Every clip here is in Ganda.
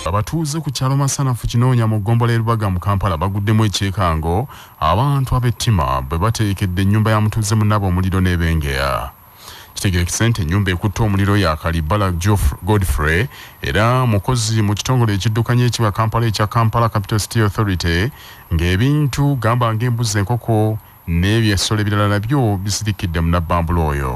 abatuuze ku kyalo masanafu kinoonya mu ggombola erubaga mu kampala baguddemu ekyekango abantu ab'ettima bwe bateekedde ennyumba ya mutuuze munaaba omuliro n'ebengeya kitegerekese nti ennyumba ekutte omuliro ya kalibala godfrey era mukozi mu kitongole ekiddukanya ekiba kampala ekya kampala capital city authority ng'ebintu gamba ng'embuzi enkoko n'ebyo essolo ebirala nabyo bisirikidde munabbambula oyo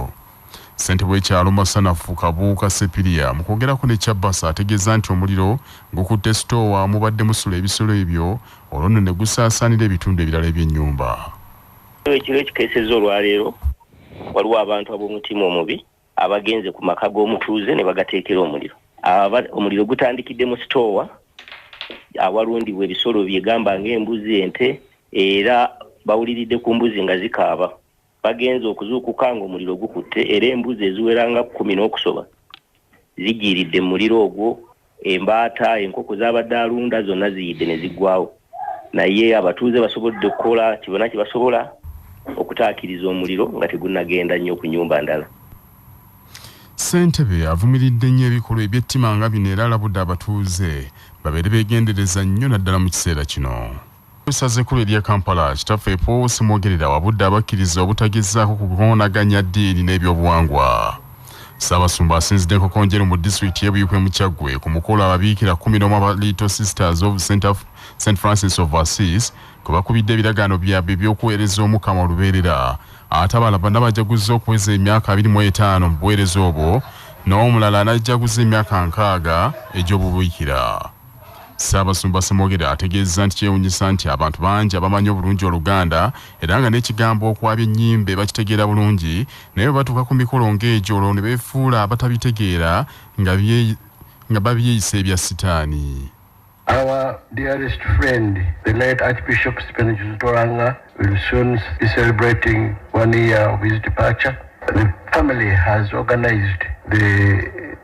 ssente bwekyalo masanafu kabuuka sepiria mu kwogerako ne kyabasa ategeeza nti omuliro gukutte sitoowa mubadde musula ebisolo ebyo olwo nno ne gusaasaanira ebitundu ebirala eby'ennyumba ekiro ekikeeseza olwaleero waliwo abantu ab'omutima omubi abagenze ku maka g'omutuuze ne bagateekera omuliro omuliro gutandikidde mu sitoowa awalundibwa ebisolo byegamba ng'embuzi ente era bawuliridde ku mbuzi nga zikaaba bagenze okuzuukuka nga omuliro gukutte era embuzi eziweranga kumi n'okusoba zigiiridde mu muliro ogwo Embaata enkoko z'abadde alunda zonna ziyidde ne ziggwaawo naye abatuuze basobodde okukola kye bonna kye basobola okutaakiriza omuliro nga tegunnagenda nnyo ku nnyumba ndala. Ssentebe avumiridde nnyo ebikolwa eby'ettima nga bino era alabudde abatuuze babeere beegendereza nnyo naddala mu kiseera kino. Essaza ekkulu erya Kampala, Kitaffe Paul Ssemwogerera wabudde abakkiriza obutagezaako kukoonaganya ddiini n'ebyobuwangwa. Ssaabasumba asinzidde Nkokonjeru mu disitulikiti y'e Buikwe mu Kyaggwe ku mukolo ababiikira kkumi n'omu aba Little Sisters of St Francis of Assis kwe bakubidde ebiragaano byabwe eby'okuweereza Omukama olubeerera ate abala bana bajaguzza okuweza emyaka abiri mu etaano mu buweereza obwo n'omulala anajjaguza emyaka nkaaga egy'obubiikira. Ssaabasumba Ssemwogerere ategeezza nti kyewunyisa nti abantu bangi abamanyi obulungi Oluganda era nga n'ekigambo okwabya ennyimbe bakitegeera bulungi naye bwe batuuka ku mikolo ng'egyo olwo ne beefuula abatabitegeera nga babyeyisa ebya sitaani. Our dearest friend, the late Archbishop Stephen Kizito Langa, We'll soon be celebrating one year of his departure. The family has organized the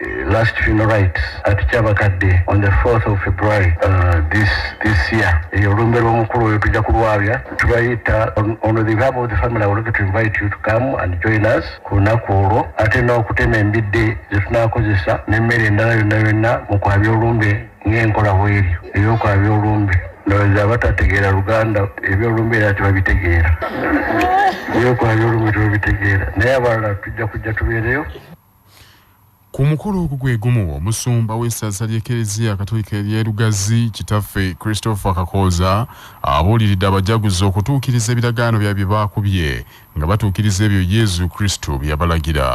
uh, last funeral rites at Chabakadde on the 4th of February uh, this this year. Eyo olumbe lw'omukulu oyo tujja kulwabya tubayita on, on the behalf of the family I would like to invite you to come and join us ku lunaku olwo ate n'okutema embidde ze tunaakozesa n'emmere endala yonna yonna mu kwabya olumbe ng'enkola bweri eby'okola by'olumbe ndowooza abatategeera luganda eby'olumbe era tebabitegeera eby'okola by'olumbe tebabitegeera naye abalala tujja kujja tubeereyo ku mukolo ogwo gwe gumu omusumba w'essaza ly'ekereziya katolika ery'e lugazi kitaffe christopher kakooza abuuliridde abajaguzi okutuukiriza ebiragaano bya bye baakubye nga batuukiriza ebyo yezu kristo bye yabalagira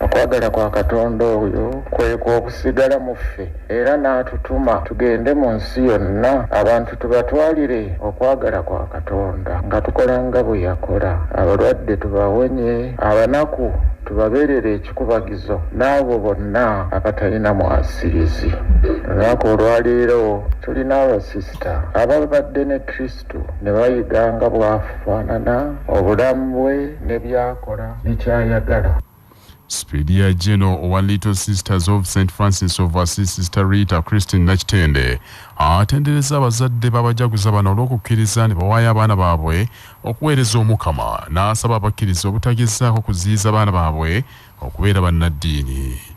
Okwagala kwa Katonda oyo kwe kwa okusigala mu ffe era n'atutuma tugende mu nsi yonna abantu tubatwalire okwagala kwa Katonda nga tukola nga bwe yakola, abalwadde tubawonye, abanaku tubabeerere ekikubagizo n'abo bonna abatalina mwasirizi. Olunaku olwaleero tulina abasisita ababadde ne Kristo. Kristo ne bayiga nga bw'afaanana, obulamu bwe ne by'akola ne ky'ayagala. Sipiidi ya Jeno owa Little Sisters of St Francis of Assisi Sister Rita Christine Nakitende atendereza abazadde b'abajaguza bano olw'okukkiriza ne bawaayo abaana baabwe okuweereza Omukama n'asaba abakkiriza obutagezaako kuziyiza baana baabwe okubeera bannaddiini.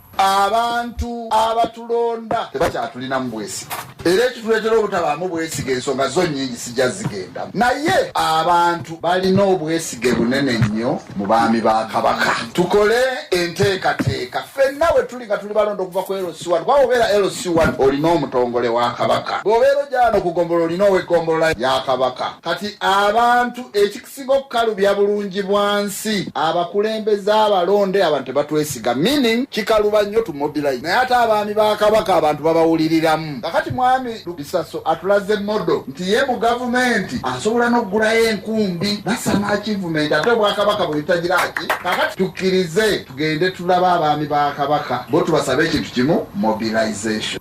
abantu abatulonda tebakyatulinamu bwesige era ekituleetera obutabaamu bwesige ensonga zo nyingi sijja zigenda naye abantu balina obwesige bunene nnyo mu baami ba kabaka tukole enteekateeka fenna we tuli nga tuli balonda okuva ku lc1 kuba obeera lc1 olina omutongole wa kabaka bw'obeera ojaano ku gombolola olina ow'egombolola ya kabaka kati abantu Okusiga okukalubya bulungi bwansi abakulembeze abalonde abantu tebatwesiga meaning kikaluba nnyo to mobilize naye ate abaami ba kabaka abantu babawuliriramu kakati mwami lubisaso atulaze modo nti ye mu gavumenti asobola n'okugulayo enkumbi basama akivumenti ate obwakabaka bwebitajiraki kakati tukkirize tugende tulaba abaami ba kabaka bo tubasaba ekintu kimu mobilization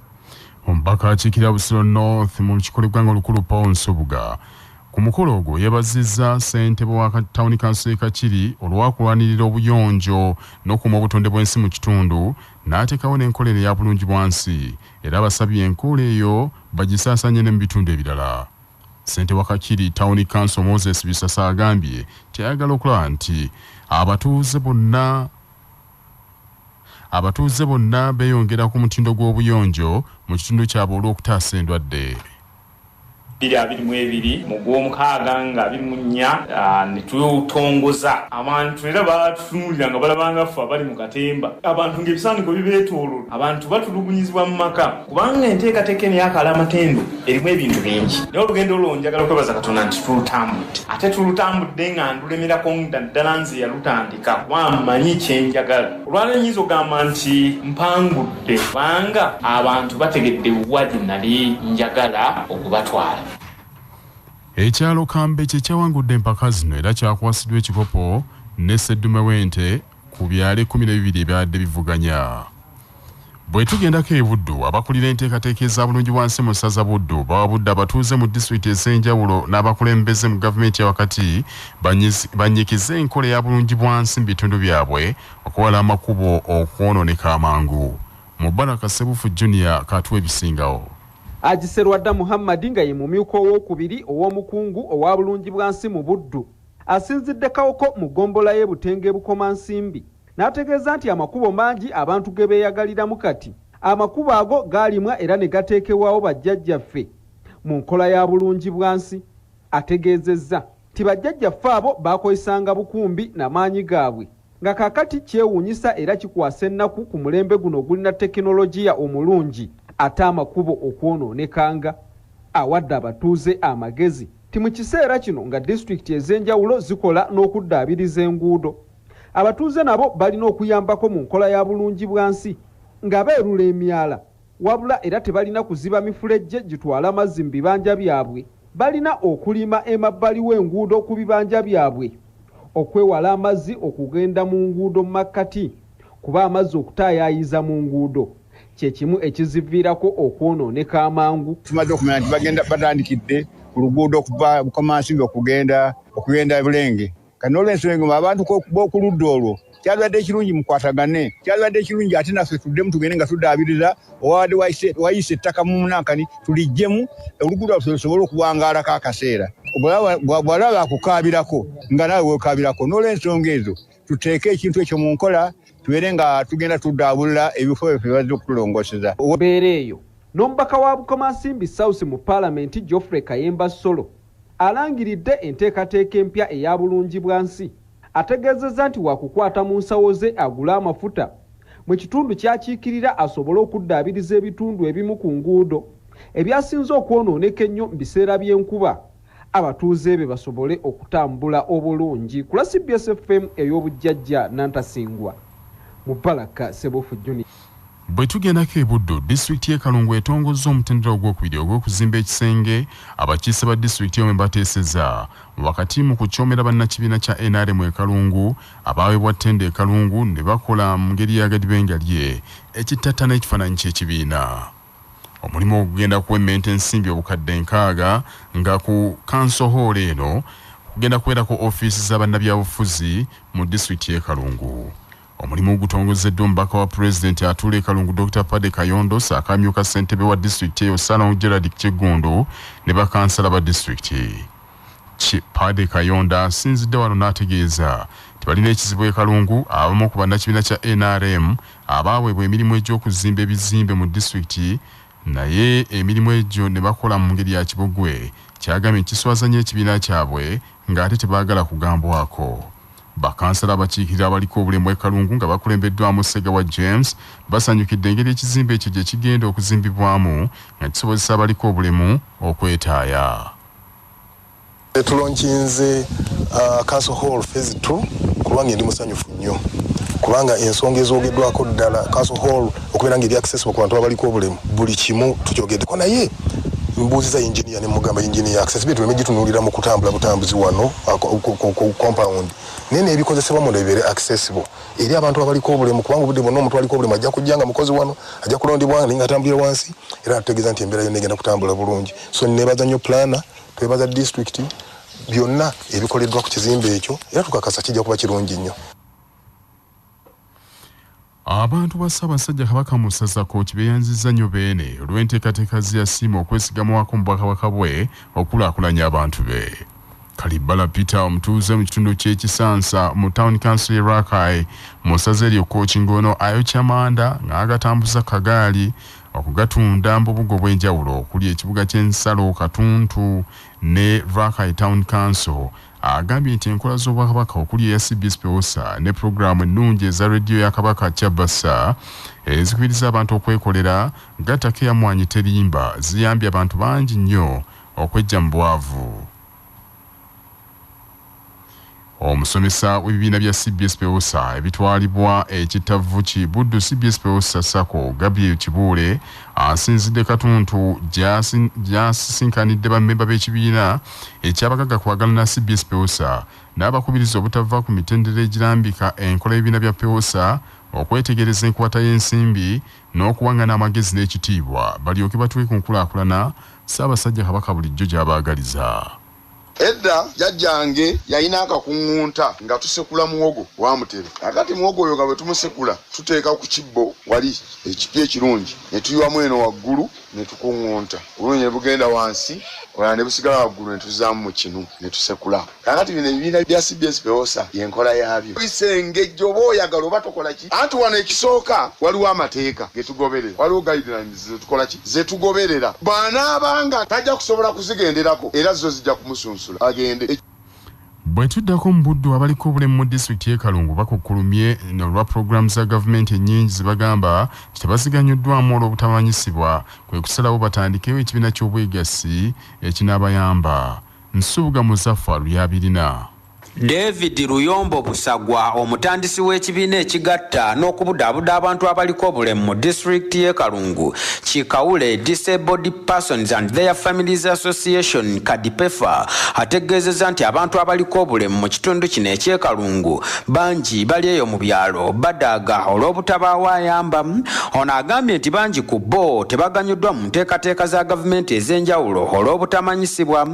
omubaka akiikirira busiro north mu lukiiko lw'eggwanga olukulu paul nsubuga Ku mukolo ogwo yebaziza ssentebe wa tawuni kanso ye Kakiri olwakulwanirira obuyonjo nokuuma obutonde bwensi mu kitundu natekawo nenkola eno eya bulungi bwansi era abasabye enkola eyo bagisasanye ne mu bitundu ebirala. Ssente wa Kakiri tawuni kanso Moses Bisasa agambye nti ayagala okulaba nti abatuuze bonna abatuuze bonna beyongera ku mutindo gw'obuyonjo mu kitundu kyabwe olwokutaasa endwadde. 2022 mu gw'omukaaga nga 24 ah, ne twetongoza abantu era batutunuulira nga balabanga ffe abali mu katemba abantu ng'ebisaaniko bibeetoololo abantu batulugunyizibwa mu maka kubanga enteekateeka eno yakala amatendo erimu ebintu bingi naye olugendo olwo njagala kwebaza katonda nti tulutambudde ate tulutambudde nga ndulemerako naddala nze yalutandika kawa mmanyi kye njagala olwaleero nyinza ogamba nti mpangudde kubanga abantu bategedde wa gye nali njagala okubatwala ekyalo kambe kye kyawangudde empaka zino era kyakwasiddwa ekikopo ne sseddume w'ente ku byalo ekkumi n'ebibiri ebyabadde bivuganya Bwetugendako e Buddu, abakulira enteekateeka eza bulungi bwansi mu ssaza Buddu bawabudde abatuuze mu disitulikiti ez'enjawulo n'abakulembeze mu gavumenti ya wakati bannyikize enkola ya bulungi bwansi mu bitundu byabwe okuwala amakubo okwonooneka amangu. Mubaraka Sebufu Junior katuwa ebisingawo. Haji Serwadda Muhammad nga ye mumyuka owookubiri ow'omukungu owa bulungi bwansi mu Buddu asinzidde Kawoko mu ggombolola y'e Butenga e Bukomansimbi n'ategeeza nti amakubo mangi abantu ge beeyagaliramu kati, amakubo ago gaalimwa era ne gateekebwawo bajjajjaffe mu nkola ya Bulungibwansi. Ategeezezza nti bajjajjaffe abo baakozesanga bukumbi na maanyi gaabwe nga kaakati kyewuunyisa era kikwasa ennaku ku mulembe guno ogulina tekinologiya omulungi ate amakubo okwonooneka nga awadde abatuuze amagezi nti mu kiseera kino nga disitulikiti ez'enjawulo zikola n'okuddaabiriza enguudo Abatuuze nabo balina okuyambako mu nkola ya Bulungibwansi nga beerula emyala wabula era tebalina kuziba mifulejje gitwala mazzi mu bibanja byabwe. Balina okulima emabbali w'enguudo ku bibanja byabwe okwewala amazzi okugenda mu nguudo mu makkati kuba amazzi okutaayaayiza mu nguudo kye kimu ekiziviirako okwonooneka amangu. Tumaze okumanya nti batandikidde ku luguudo okuva Bukomansimbi okugenda e Bulenge kati n'olwensonga eno abantu b'okuludda olwo kyabadde ekirungi mukwatagane kyabadde ekirungi ate naffe tuddemu tugende nga tudaabiriza owabadde wayisa ettaka mu munankani tulijjemu oluguudo lwaffe lusobole okuwangaalako akaseera bwalaba akukaabirako nga naawe wekaabirako n'olwensonga ezo tuteeke ekintu ekyo mu nkola tubeere nga tugenda tudaabulula ebifo byaffe bazze okutulongoseza obeera eyo n'omubaka wa bukomansimbi south mu palamenti geoffrey kayemba solo Alangiridde enteekateeka empya eya Bulungibwansi, ategeezezza nti wakukwata mu nsawo ze agule amafuta mu kitundu kyakiikirira asobole okuddaabiriza ebitundu ebimu ku nguudo ebyasinze okwonooneka ennyo mu biseera by'enkuba abatuuze be basobole okutambula obulungi. Ku lwa cbs FM ey'obujjajja Nantasingwa, Mubaraka Ssebuufu Junior. Bwe tugendako e Buddu, disitulikiti y'e Kalungu etongozza omutendera ogwokubiri ogw'okuzimba ekisenge abakiise ba disitulikiti eno mwe bateeseza wakati mu kucoomera bannakibiina kya nrm e Kalungu abaaweebwa ttenda e Kalungu ne bakola mu ngeri ya gadibengalye ekittattana ekifaananyi ky'ekibiina. Omulimu ogwo gugenda kuwemmenta ensimbi obukadde nkaaga nga ku kanso hoolo eno kugenda kubeerako ofiisi za bannabyabufuzi mu disitulikiti y'e Kalungu. Omulimu gutongozeddwa omubaka wa pulezidenti atuula e Kalungu Dokita Pade Kayondo saako amyuka ssentebe wa disitulikiti eyo Salong Gerald Kiggundu ne bakansala ba disitulikiti. Pade Kayondo asinzidde wano n'ategeeza nti balina ekizibu e Kalungu abamu ku bannakibiina kya NRM abaaweebwa emirimu egy'okuzimba ebizimbe mu disitulikiti naye emirimu egyo ne bakola mu ngeri ya kibogwe kyagambye nti kiswaza nnyo ekibiina kyabwe ng'ate tebaagala kugambwako. Bakansala abakiikirira abaliko obulemu e Kalungu nga bakulembeddwamu Ssegawa James basanyukidde engeri ekizimbe ekyo gye kigenda okuzimbibwamu nga kisobozesa abaliko obulemu okwetaaya. Tulonkinze uh, Council Hall Phase 2 kubanga ndi musanyufu nnyo kubanga ensonga ezoogeddwako ddala Council Hall okubeera nga ebyaccessible ku bantu abaliko obulemu buli kimu tukyogeddeko naye mbuuziza enginia ne mugamba enginia accessibility tuleme gitunuulira mu kutambula butambuzi wano compound naye nebikozesebwa munda bibeere accessible eri abantu abaliko obulemu kubanga obudde bwonna omuntu aliko obulemu ajja kujja nga mukozi wano ajja kulondebwa naye nga atambulira wansi era natutegeeza nti embeera yonna egenda kutambula bulungi so nebaza nnyo plana twebaza district byonna ebikoleddwa ku kizimbe ekyo era tukakasa kijja kuba kirungi nnyo Abantu ba Ssaabasajja Kabaka mu Ssaza Kooki beeyanzizza nnyo Beene olw'enteekateeka ze yasiima okwesigamwako mu Bwakabaka bwe okukulaakulanya abantu be. Kalibbala Peter omutuuze mu kitundu ky'e Kisansa mu Town Council y'e Rakai mu ssaza eryo Kooki ng'ono ayokya manda ng'agatambuza ku kagaali okugatunda mu bubuga obw'enjawulo okuli ekibuga ky'ensalo Katuntu ne Rakai Town Council Agambye nti enkola z'Obwakabaka okuli eya cbs Pewosa ne pulogulaamu ennungi eza rediyo ya Kabaka Kyabassa ezikubiriza abantu okwekolera gattako eya Mwanyi Terimba ziyambye abantu bangi nnyo okweggya mu bwavu. Omusomesa w'ebibiina bya cbs Pewosa ebitwalibwa ekittavvu ki Buddu cbs Pewosa Sacco Gabriel Kibuule asinzidde Katuntu gy'asisinkanidde bammemba b'ekibiina eky'abagagga kwagala na cbs pewosa n'abakubiriza obutava ku mitendera egirambika enkola y'ebibiina bya pewosa okwetegereza enkwata y'ensimbi n'okuwang'ana amagezi n'ekitiibwa balyoke batuuke ku nkulaakulana Ssaabasajja Kabaka bulijjo gy'abaagaliza. Edda jjajjange yalina akakuŋŋunta nga tusekula muwogo wa mutere. Kaakati muwogo oyo nga bwe tumusekula tuteeka ku kibbo wali ekipya ekirungi ne tuyiwamu eno waggulu. ne tukuŋŋunta, obulungi ne bugenda wansi, obulala ne busigala waggulu ne tuzzaamu mu kinu ne tusekula. Kaakati bino ebibiina bya cbs pewosa y'enkola yaabyo. Oyisa engejje oba oyagala oba tokola ki, anti wano ekisooka waliwo amateeka ge tugoberera, waliwo guidelines ze tukola ki, ze tugoberera. Bw'anaaba nga tajja kusobola kuzigenderako era zo zijja kumusunsula agende. Bwetuddako mu Buddu abaliko obulemu mu disitulikiti y'e Kalungu bakukkulumye olwa pulogulaamu za gavumenti ennyingi zebagamba nti tebaziganyuddwamu olw'obutamanyisibwa kwe kusalawo batandikewo ekibiina ky'obwegassi ekinaabayamba. Nsubuga Muzaffar y'abirina. David Luyombo Busagwa omutandisi w'ekibiina ekigatta n'okubudaabuda abantu abaliko obulemu mu disitulikiti y'e Kalungu ki Kawule Disabled Persons and their Families Association Kadipefa ategeezeza nti abantu abaliko obulemu mu kitundu kino ekyekalungu bangi bali eyo mu byalo badaaga olw'obutabaawo ayamba. Ono agambye nti bangi ku bo tebaganyuddwa mu nteekateeka za gavumenti ez'enjawulo olw'obutamanyisibwa.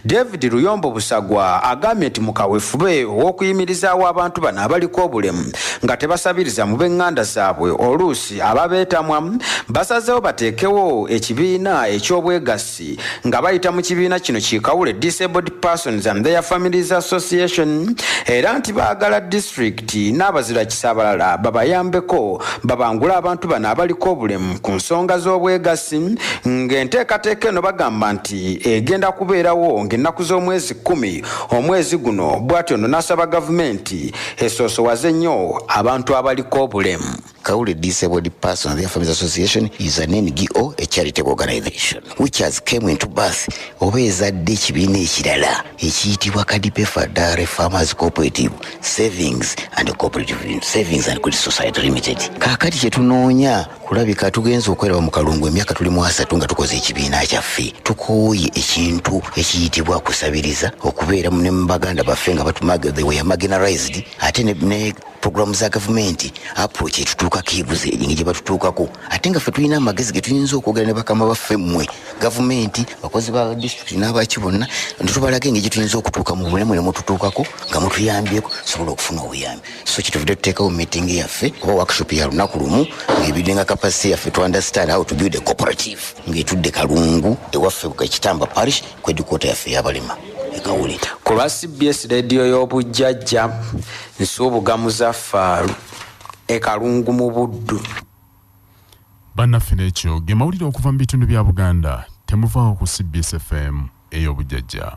David Luyombo Busagwa agambye nti mu kawefube ow'okuyimirizaawo abantu bano abaliko obulemu nga tebasabiriza mu b'enganda zaabwe oluusi Abasuubuzi ababeetamwa basazeewo bateekewo ekibiina eky'obwegassi nga bayita mu kibiina kino ki Kawule Disabled Persons and their Families Association era nti baagala disitulikiti n'abazirakisa abalala babayambeko babangule abantu bano abaliko obulemu ku nsonga z'obwegassi ng'enteekateeka eno bagamba nti egenda kubeerawo ng'ennaku z'omwezi kkumi omwezi guno bwatyo no n'asaba gavumenti esoosowaze nnyo abantu abaliko obulemu. Kaule Disabled Persons Their Families Association is an NGO, a charitable organization, which has came into birth oba ezadde ekibiina ekirala ekiyitibwa Kadipe Fadare Farmers Cooperative Savings and Cooperative Savings and Credit Society Limited. Kaakati kye tunoonya kulabika tugenze okweraba mu kalungu emyaka tuli mu asatu nga tukoze ekibiina kyaffe tukooye ekintu ekiyitibwa kusabiriza okubeera ne mu baganda baffe nga batumaga they were marginalized ate ne, ne puroguramu za gavumenti approach etutuukako ebuze engeri gye batutuukako ate nga ffe tulina amagezi ge tuyinza okwogera ne bakama baffe mmwe gavumenti bakozi ba disitulikiti n'abaki bonna netubalaga engeri gye tuyinza okutuuka mu bulemu ne mututuukako nga mutuyambyeko sobola okufuna obuyambi so kyetuvudde tuteekawo meeting yaffe oba workshop ya lunaku lumu ng'ebidde nga capacity yaffe to understand how to build a cooperative ng'etudde kalungu ewaffe ekitamba parish kwedikota yaffe yabalema ekawuli ku lwa cbs rediyo y'obujjajja Nsubuga Muzaffaaru e Kalungu mu Buddu. Bannaffe n'ekyo ge mawulire okuva mu bitundu bya Buganda. Temuvaawo ku CBS FM ey'obujjajja.